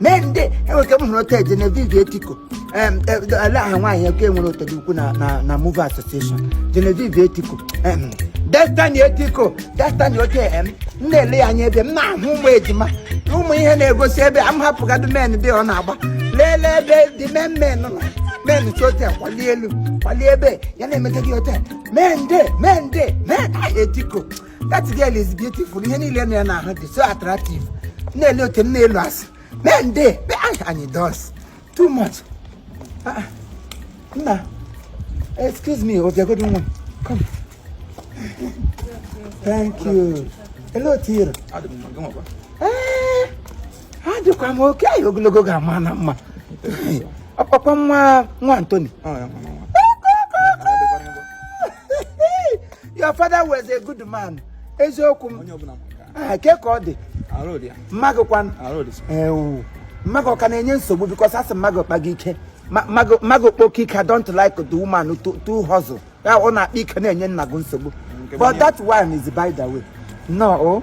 mee ndị enwere ike m hụrụ otu eje na Genevieve Etiko em, e, ele aha nwaanyị nke nwere otu dị ukwu na na na Movie Association Genevieve Etiko em, Destiny Etiko Destiny oke em m na-ele ya anya ebe m na-ahụ ụmụ ejima ụmụ ihe na-egosi ebe a m hapụgadụ men dị ọ na-agba lelee ebe dị men men nọ men si otu a kwalie elu kwalie ebe ya na-emeta gị otu a men de men de men ah, Etiko that girl is beautiful ihe niile na ya na ahụ dị so attractive na-ele oke m na-elu asị mee nde be anyị anyị dos too much Ah, ah. nna excuse me bịagodo nwa come thank you elee otu ị rị Adị m mma, gị nwakwa. Ee, adịkwa m okay anyị ogologo ga-ama na mma ọkpakwa nwa nwa Anthony Ọ ya, nwa, nwa, nwa. your father was a good man eziokwu m ah, kee ka ọ dị ma gị kwan ewu ma gị ọ ka na-enye nsogbu because a sị ma gị kpa gị ike ma gị kpoke ike I don't like the woman to hustle ya ọ na-akpa ike na-enye nna gị nsogbu but that one is by the way no oh.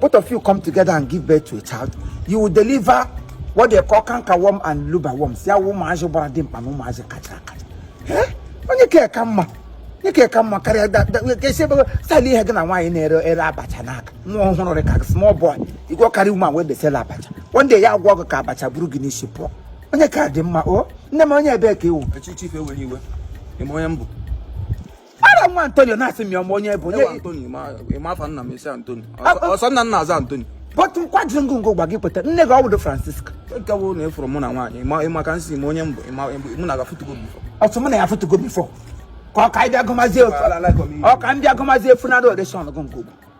both of you come together and give birth to a child you will deliver what they call cankerworm and luba worm see how ụmụazị gbara dimkpa na ụmụazị kacha akacha Eh? onye ka eka mma onye ka eka mma karịa da- da- ka esi ebe style ihe gị na nwaanyị na-ere ere abacha n'aka nwa ọhụrụ dị ka small boy you go carry woman wey dey sell abacha one day ya agwọọ gị ka abacha buru gị n'isi pụọ onye ka dị mma o nne m onye ebee ka ị wụ Eh chief ewele iwe. Ị ma onye m bụ? Ara nwa Anthony na-asị m ya ma onye bụ onye. Anthony ị ma afa nna m isi Anthony. Ọ sọ nna na-aza Anthony. But nkwa jiri ngụngụ gwa gị kweta nne gị ọ bụdo Francisca. Nke bụ na ị fụrụ mụ na nwaanyị ịma ka ị sị ị ma onye m bụ mụ na gị afụtụgo before. Ọ sị mụ na ya afụtụgo before. Ka ọ ka ndị agụmazi efu. Ọ ka ndị agụmazi efu na Adoration gụngụ.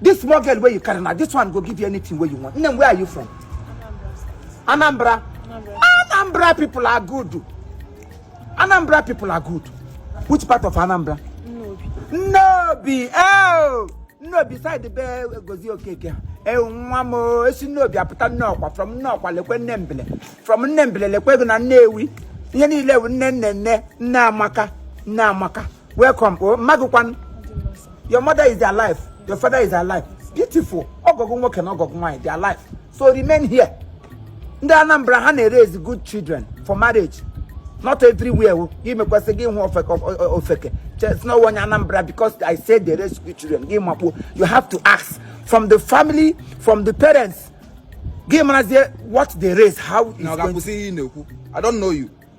This small girl wey you carry now, this one go give you anything wey you want. Nne, where are you from? Anambra. Anambra. Anambra people are good. Anambra people are good. Which part of Anambra? Nnobi. Nnobi. Oh! Nnobi side the bear goes okay. okay. ewu nwa m e si Nnobi apụta Nnọkwa from Nnọkwa lekwe nne mbele from nne mbele lekwe gị na Nnewi ihe niile wụ nne nne nne nne amaka nne amaka welcome o oh, ma gị kwan your mother is alive your father is alive beautiful ọgọ gị nwoke na ọgọ gị nwaanyị they are alive so remain here ndị Anambra ha na-eraise good children for marriage not everywhere oh. gị mekwasị gị hụ ofeke chee sị na onye Anambra because I say they raise good children gị makpuo you have to ask from the family from the parents gị marazie what they raise how is going to... I don't know you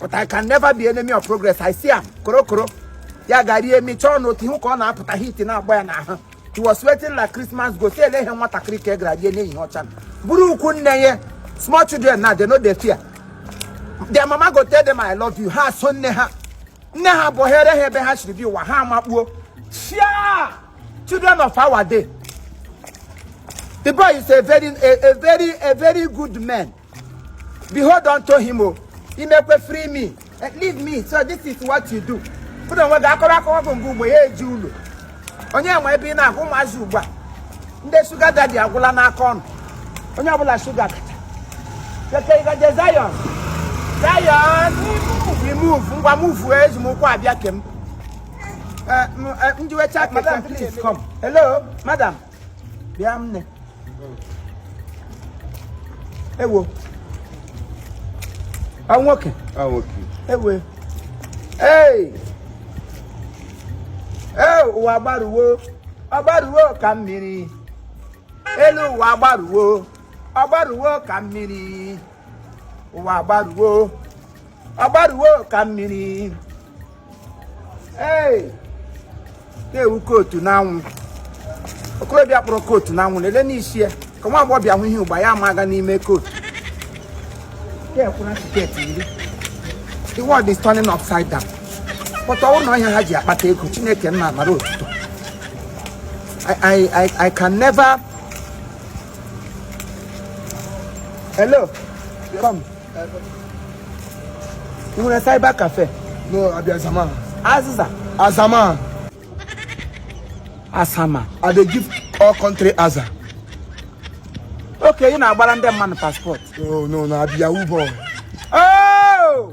but I can never be enemy of progress I see am korokoro ya ga rie mi chọọ n'otu ihu ka ọ na-apụta heat na-agba ya n'ahụ he was sweating like Christmas goat si ele ihe nwatakịrị ka e gara rie n'ehihie ọcha bụrụ ukwu nne ya small children now they no dey fear their mama go tell them I love you ha so nne ha nne ha bụ here ha ebe ha chiri bi ụwa ha amakpuo chia children of our day the boy is a very a, a very a very good man behold unto him o imekwe free me eh, leave me so this is what you do pụrụ onwe gị akọrọ akọwa bụ mgbe ugbo ya eji ụlọ onye enwe ebe ị na-agụ ụmụazị ugbu a nde sugar daddy agwụla n'aka ọnụ onye ọbụla sugar kacha keke ị gaje Zion Zion we move ngwa move eji m ụkwụ abịa kem eh, eh, njiwecha keke please come hello madam bịa nne ewo a nwoke a nwoke ewo ee ee ụwa gbaruwo ọ gbaruwo ka mmiri elu ụwa gbaruwo ọ gbaruwo ka mmiri ụwa gbaruwo ọ gbaruwo ka mmiri ee na-ewu coat n'anwụ okorobịa kpọrọ coat n'anwụ na-ele n'isi ya ka nwa agbọghọ bịa hụ ihe ugba ya ma aga n'ime coat the world is turning upside down but ọ wụ na ọ ihe ha ji akpata ego chineke nna mara otuto I, I, I can never hello come ị nwere cyber cafe no I be azaman azịza azaman azaman i dey give all country aza okay ị na-agbara ndị mmadụ passport no no na I be Yahoo boy oh!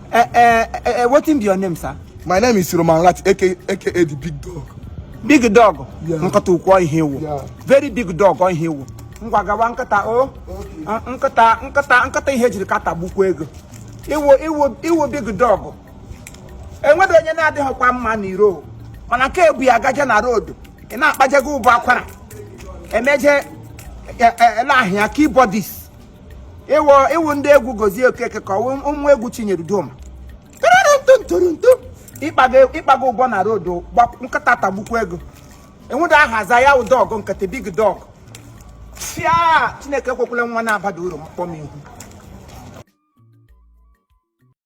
Eh, eh, eh, eh, wetin be your name sir My name is Roman Rat, aka, aka the Big Dog. big dog Yeah. nkịta ukwu ọ ihe ị wụ Yeah. very big dog ọ ihe ị wụ ngwa gawa nkịta o Ah, nkịta nkịta nkịta ihe jiri ka tagbukwa gị o ị wụ ị wụ ị wụ big dog enwedị onye na-adịghịkwa mma n'iro o. mana nke ebu ya gaje na road ị na-akpaje gị ụbọ akwara emeje ele ahịa keyboardist ị wụ ị wụ ndị egwu gozie okeke ka ọ wụ ụmụ egwu chinyere udoma ntụrụntụ ị kpago ụbọ na road nkịta tagbukwa gị o enweda aha aza ya dog nkịta big dog chia chineke ekwekwala nwa na-abada uru kpọọ m ihu